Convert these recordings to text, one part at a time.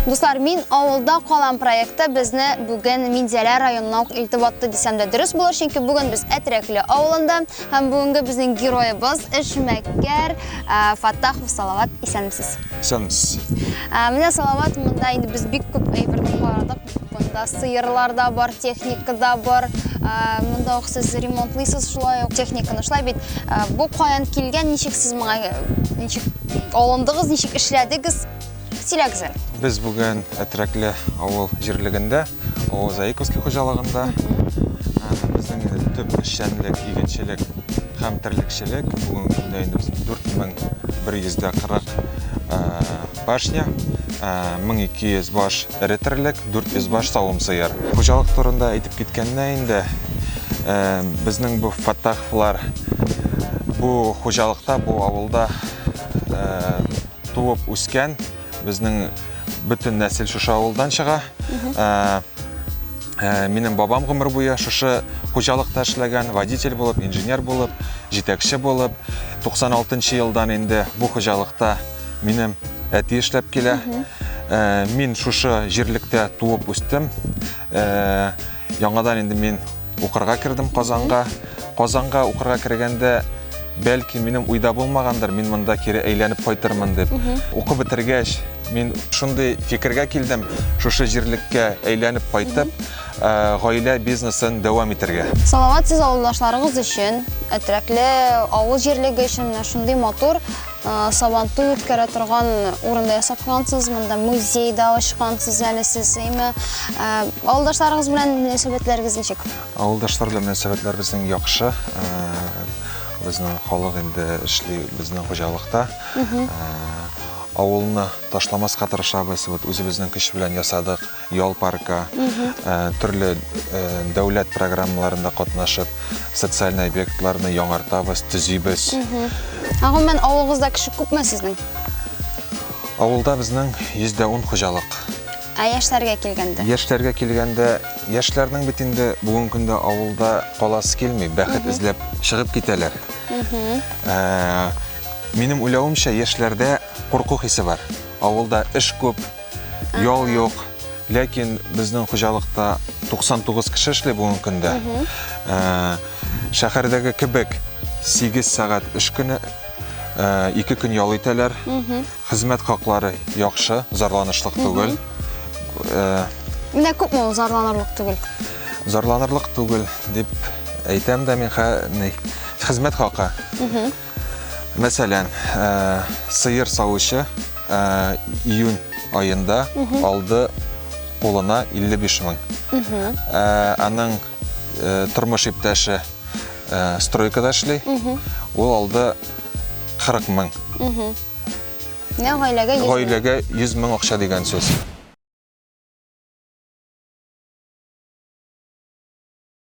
Дуслар, мин авылда калам проекты безне бүген Минзәлә районына ук илтеп атты дисәм дә дөрес булыр, чөнки бүген без Әтрәкле авылында һәм бүгенге безнең героебыз эшмәкәр Фаттахов Салават исәнмесез. Исәнмесез. Менә Салават монда инде без бик күп әйберне карадык, Монда сыерлар да бар, техника да бар. Монда ук сез ремонтлыйсыз шулай ук техниканы. Шулай бит бу каян килгән, ничек сез моңа ничек алындыгыз, ничек эшләдегез? Сөйләгез әле. Без бүген Әтрәкле авыл җирлегендә, авыл Заиковский хуҗалыгында. Безнең инде төп эшчәнлек, игенчелек һәм терлекчелек. Бүген көндә инде без 4140 пашня, 1200 баш эре терлек, 400 баш савым сыер. Хуҗалык турында әйтеп киткәндә инде, э, безнең бу фаттаховлар бу хуҗалыкта, бу авылда э, туып үскән, безнең бөтен нәсел шушы авылдан чыга. Э, э, минем бабам гомер буе шушы хуҗалыкта эшләгән, водитель булып, инженер булып, җитәкче булып, 96 елдан инде бу хуҗалыкта Минем әти эшләп килә. Э, мин шушы җирлектә туып үстем. Э, яңадан инде мин укырга кердем Казанга. Казанга укырга кергәндә бәлки минем уйда булмагандыр, мин монда кире әйләнеп кайтырмын дип. Укып бетергәч, мин шундый фикергә килдем, шушы җирлеккә әйләнеп кайтып, э, гаилә бизнесын дәвам итәргә. Салават сез авылдашларыгыз өчен, әтрәкле авыл җирлеге өчен менә шундый матур Сабантуй үткәрә торган урында ясап куйгансыз, монда музейда ачкансыз әле сез, әйме? Авылдашларыгыз белән мөнәсәбәтләрегез ничек? Авылдашлар белән мөнәсәбәтләр безнең яхшы. Безнең халык инде эшли безнең хуҗалыкта. Авылны ташламаска тырышабыз, вот үзебезнең көч белән ясадык. ял парка, төрле дәүләт программаларында катнашып, социаль объектларны яңартабыз, төзибез. Гомумән, авылыгызда кеше күпме сезнең? Авылда безнең 110 хуҗалык. Ә яшьләргә килгәндә? Яшьләргә килгәндә, яшьләрнең бит инде бүгенге көндә авылда каласы килми, бәхет эзләп чыгып китәләр. Минем уйлавымча, яшьләрдә курку хисе бар. Авылда эш күп, Ял юк. Ләкин безнең хуҗалыкта 99 кеше эшли бүгенге көндә. Ә, шәһәрдәге кебек 8 сәгать эш көне, ә, 2 көн ял итәләр. Хезмәт хаклары яхшы, зарланышлык түгел. Ә, Менә күпме ул зарланырлык түгел. зарланырлык түгел дип әйтәм дә мин хә- ни, хезмәт хакы. Мәсәлән, сыер савучы июнь аенда алды кулына 55 мең. Аның тормыш иптәше стройкада эшли, ул алды 40 мең. Гаиләгә 100 мең акча дигән сүз.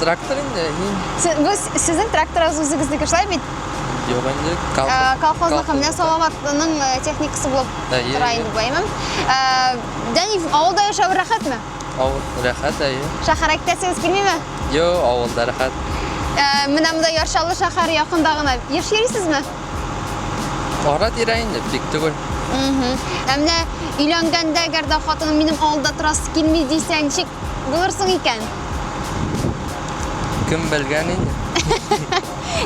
Трактор инде, мин. Сез, ну, сезнең тракторыгыз үзегезнеке шулай бит? Юк инде, колхоз. Э, колхозныкы менә Салаватның э, техникасы булып э, тора инде бу, әйме? Дәни авылда яшәү рәхәтме? Авыл рәхәт, әйе. Шәһәр әйтәсегез килмиме? Йо, авылда рәхәт. Менә монда Яршалы шәһәр якында гына. Еш йөрисезме? Ара тирә инде, бик түгел. Менә өйләнгәндә, әгәр дә хатыным минем авылда торасы килми дисәң, ничек Булырсың икән. Кем белгән инде.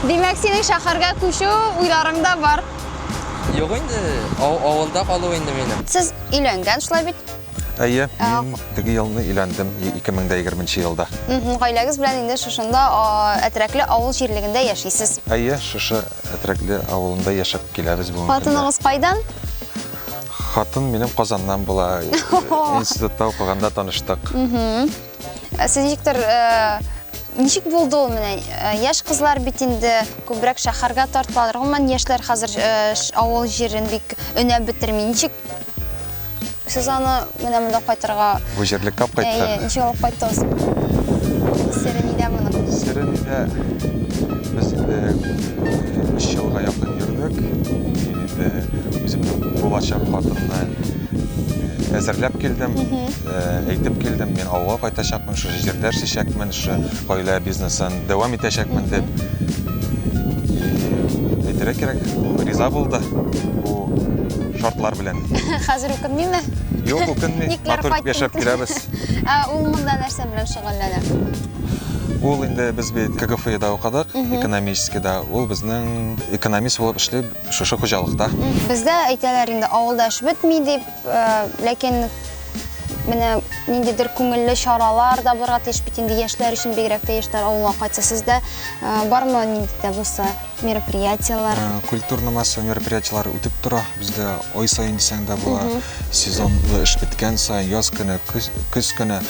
Димәк, синең шәһәргә күчү уйларың да бар. Юк инде, авылда калу инде минем. Сез өйләнгән шулай бит? Әйе, мин теге елны өйләндем, 2020 елда. Гаиләгез белән инде шушында Әтрәкле авыл җирлегендә яшисез. Әйе, шушы Әтрәкле авылында яшәп киләбез бүгенге көндә. Хатыныгыз кайдан? Хатын минем Казаннан була. Институтта укыганда таныштык. Э, сез ничектер э, ничек булды ул менә э, яшь кызлар бит инде күбрәк шәһәргә тартылалар гомумән яшьләр хәзер авыл җирен бик өнәп бетерми ничек сез аны менә монда кайтырга бу җирлеккә алып кайттык ничек алып кайттыгыз сере нидә моның сере нидә без инде өч елга якын йөрдек үземнең булачак хатынны әзерләп килдем, әйтеп килдем, мин авылга кайтачакмын, шушы җирдә эшләячәкмен, шушы гаилә бизнесын дәвам итәчәкмен дип. Әйтергә кирәк, ул риза булды бу шартлар белән. Хәзер үкенмиме? Юк, үкенми. Матур итеп яшәп киләбез. Ә ул монда нәрсә белән шөгыльләнә? Ул инде без бит КГФИда укыдык, экономическийда. Ул безнең экономист булып эшли. Шушы хуҗалыкта? Бездә әйтәләр инде, авылда эш бетми дип, ләкин менә ниндидер күңелле чаралар да барга тиеш бит инде яшьләр өчен, бигрәк тә яшьләр авылга кайтса. Сездә бармы нинди дә булса мероприятиеләр? Культурно массовый мероприятиеләр үтеп тора. Бездә ай саен дисәң дә була. Сезонлы эш беткән саен, яз көне, көз көне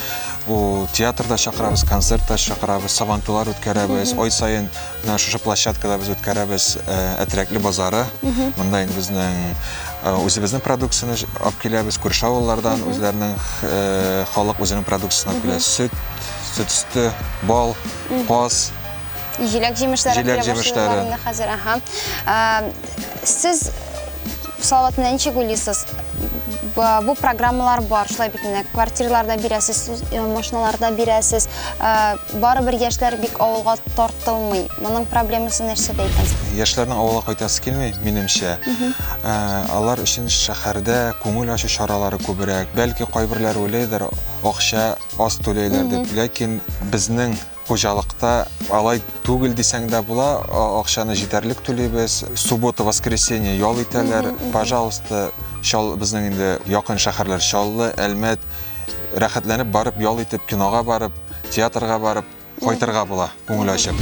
театрда чакырабыз, концертта чакырабыз, сабантуйлар үткәрәбез. Ай саен Менә шушы площадкада без үткәрәбез э, әтрәкле базары. Монда инде безнең э, үзебезнең продукцияне алып киләбез, күрше авыллардан үзләренең э, халык үзенең продукциясен алып килә. Сөт, сөт өсте, бал, каз. Җиләк җимешләре Җиләк килә башлады җимешләре. аларның да хәзер. Ага. Ә, Сез Салаватны ничек уйлыйсыз? Бу программалар бар, шулай бит инде. Квартираларда бирәсез, э, машиналарда бирәсез. Э, барыбер яшьләр бик авылга тартылмый. Моның проблемасы нәрсәдә икән? Яшьләрнең авылга кайтасы килми, минемчә. Э, алар өчен шәһәрдә күңел ачу чаралары күбрәк. Бәлки кайберләр уйлыйдыр, акча аз түләйләр дип. Ләкин безнең Хуҗалыкта алай түгел дисәң дә була, акчаны җитәрлек түлибез. Суббота, воскресенье ял итәләр. Пожалуйста, Чал безнең инде якын шәһәрләр Чаллы, Әлмәт. Рәхәтләнеп барып ял итеп, кинога барып, театрга барып кайтырга була, күңел ачып.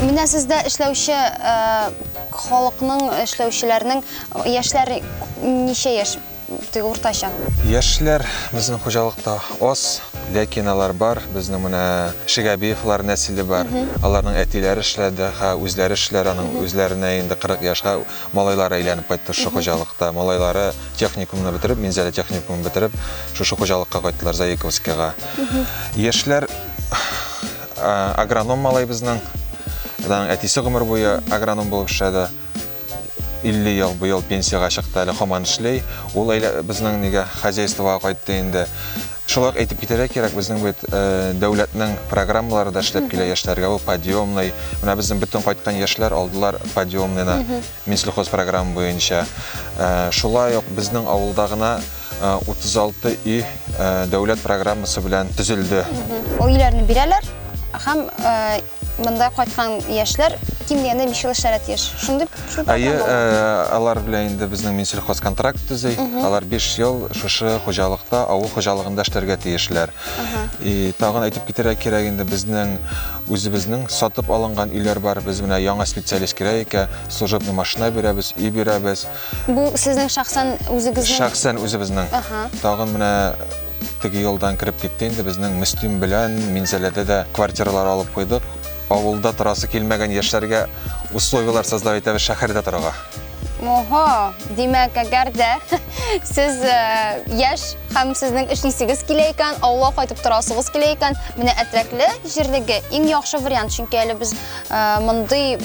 Менә сездә эшләүче халыкның, эшләүчеләрнең яшьләр ничә яшь теге уртача? Яшьләр безнең хуҗалыкта аз, ләкин алар бар. Безнең менә Шигәбиевлар нәселе бар. Аларның әтиләре эшләде, ха үзләре эшләр, аның үзләренә инде 40 яшьгә Малайлары әйләнеп кайтты шушы хуҗалыкта. Малайлары техникумны бетереп, Минзәлә техникумын бетереп, шушы хуҗалыкка кайттылар Заиковскига. Яшьләр агроном малай безнең. Аның әтисе гомер буе агроном булып эшләде. 50 ел быел пенсиягә чыкты әле хаман эшли. Ул әйлә, безнең нигә хозяйствога кайтты инде. Шулай ук әйтеп китәргә кирәк, безнең бит дәүләтнең программалары да эшләп килә яшьләргә. Бу подъемный. Менә безнең бөтен кайткан яшьләр алдылар подъемныйны Минсельхоз программы буенча. Шулай ук безнең авылда гына 36 өй дәүләт программасы белән төзелде. Өйләрне бирәләр һәм Монда кайткан яшьләр ким дигәндә 5 ел эшләргә тиеш. Шундый шул Әйе, э, алар белән инде безнең Минсельхоз контракт төзи. Алар 5 ел шушы хуҗалыкта, авыл хуҗалыгында эшләргә тиешләр. И тагын әйтеп китерә кирәк инде безнең үзебезнең сатып алынган өйләр бар. Без менә яңа специалист кирәк икән, служебный машина бирәбез, өй бирәбез. Бу сезнең шәхсән үзегезнең? Шәхсән үзебезнең. Ага. Тагын менә теге елдан кереп китте инде безнең Мөслим белән Минзәләдә дә квартиралар алып куйдык. Авылда торасы килмәгән яшьләргә условияләр создав итәбез шәһәрдә торырга. Ого, димәк, әгәр дә сез э, яшь һәм сезнең эшлисегез килә икән, авылга кайтып торасыгыз килә икән, менә Әтрәкле җирлеге иң яхшы вариант, чөнки әле без э, мондый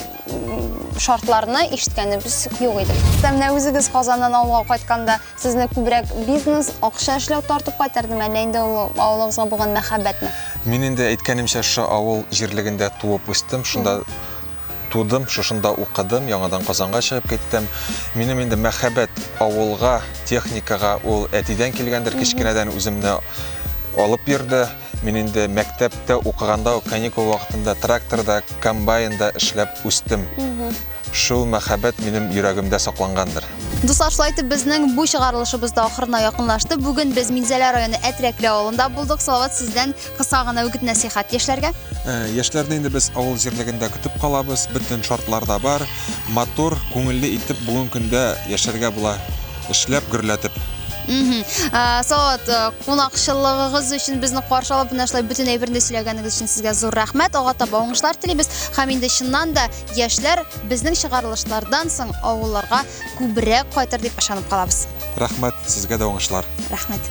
шартларны ишеткәнебез юк иде. Хәтта менә үзегез Казаннан авылга кайтканда, сезне күбрәк бизнес, акча эшләү тартып кайтардымы, әллә инде ул авылыгызга булган мәхәббәтме? Мин инде әйткәнемчә, шушы авыл җирлегендә туып үстем, шунда тудым, шушында укыдым, яңадан Казанга чыгып киттем. Минем инде мәхәббәт авылга, техникага ул әтидән килгәндер, кечкенәдән үземне алып йөрде. Мин инде мәктәптә укыганда ук каникул вакытында тракторда, комбайнда эшләп үстем. Шул мәхәббәт минем йөрәгемдә саклангандыр. Дуслар, шулай итеп безнең бу чыгарылышыбыз да ахырына якынлашты. Бүген без Минзәлә районы Әтрәкле авылында булдык. Салават, сездән кыска гына үгет-нәсыйхәт яшьләргә. Ә, яшьләрне инде без авыл җирлегендә көтеп калабыз. Бөтен шартлар да бар. Матур, күңелле итеп бүген көндә яшәргә була. Эшләп гөрләтеп. Мхм. Ә, Салават, ә, кунакчыллыгыгыз өчен безне каршы алып, менә шулай бөтен әйберне сөйләгәнегез өчен сезгә зур рәхмәт. Алга таба уңышлар телибез. Һәм инде чыннан да яшьләр безнең чыгарылышлардан соң авылларга күбрәк кайтыр дип ышанып калабыз. Рәхмәт, сезгә дә уңышлар. Рәхмәт.